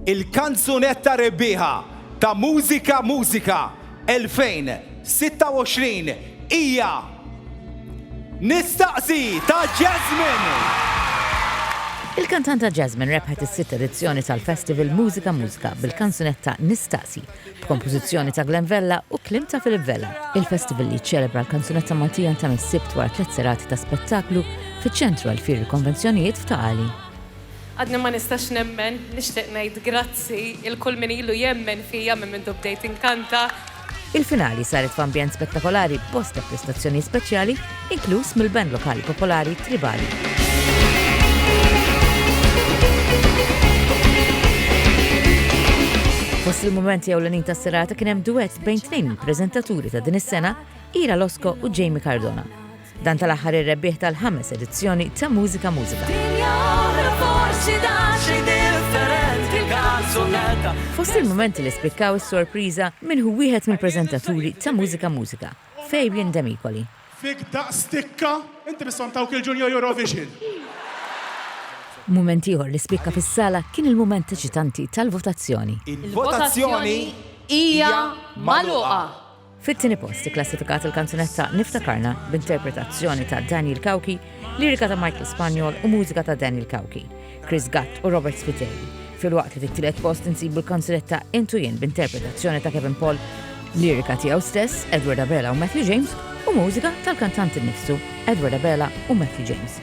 Il-Kanzunetta Rebbieħa ta' Mużika Mużika 2026 hija Nistaqsi ta' Jasmine! Il-kantanta Jasmine rebħet is-sitt edizzjoni tal-festival Mużika Mużika bil-kanzunetta Nistaqsi, b'kompożizzjoni ta' Glenn Vella u kliem ta' Philip Vella. Il-festival li jiċċelebra l-kanzunetta Maltija ntemm is-Sibt wara tliet serati ta' spettaklu fiċ-Ċentru għall-Fieri Konvenzjonijiet f'Ta' Qali. Għadni ma nistax nemmen, nixtieq ngħid grazzi 'l kull min ilu jemmen fija minn mindu bdejt inkanta. Il-finali saret f'ambjent spettakolari b'bosta prestazzjonijiet speċjali, inkluż mill-band lokali popolari Tribali. Fost il-mumenti ewlenin tas-serata kien hemm duett bejn tnejn mill-preżentaturi ta' din is-sena, Ira Losco u Jamie Cardona. Dan tal-aħħar ir-rebbieħ tal-ħames edizzjoni ta' Mużika Mużika. Fost il-momenti li spikkaw is-sorpriża minn hu wieħed mill-preżentaturi ta' Mużika Mużika, Fabian Demikoli. Fik daqs tikka, inti bisson tawk il-Junior Eurovision. Mument ieħor li spikka fis-sala kien il-mument eċitanti tal-votazzjoni. Il-votazzjoni hija magħluqa. Fit-tieni post ikklassifikat il-kanzunetta Niftakarna b'interpretazzjoni ta' Daniel Cauchi, lirika ta' Michael Spagnol u mużika ta' Daniel Cauchi, Chris Gatt u Robert Spiteri, filwaqt li fit-tielet post insibu l-kanzunetta Int u Jien b'interpretazzjoni ta' Kevin Paul, lirika tiegħu stess, Edward Abela u Matthew James, u mużika tal-kantant innifsu, Edward Abela u Matthew James.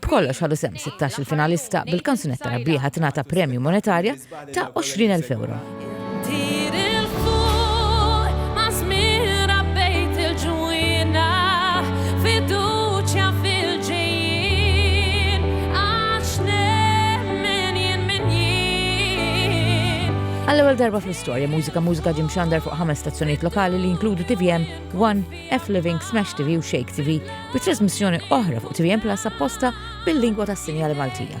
B'kollox ħadu sehem sittax-il finalista, bil-kanzunetta rebbieħa tingħata premju monetarja ta' 20,000 ewro. Għall-ewwel darba fl-istorja, mużika mużika ġimxandar fuq ħames stazzjonijiet lokali li jinkludu TVM, One, F-Living Smash TV u Shake TV bi trasmissjoni oħra fuq tvn Plus apposta bil-lingwa tas-sinjali Maltija.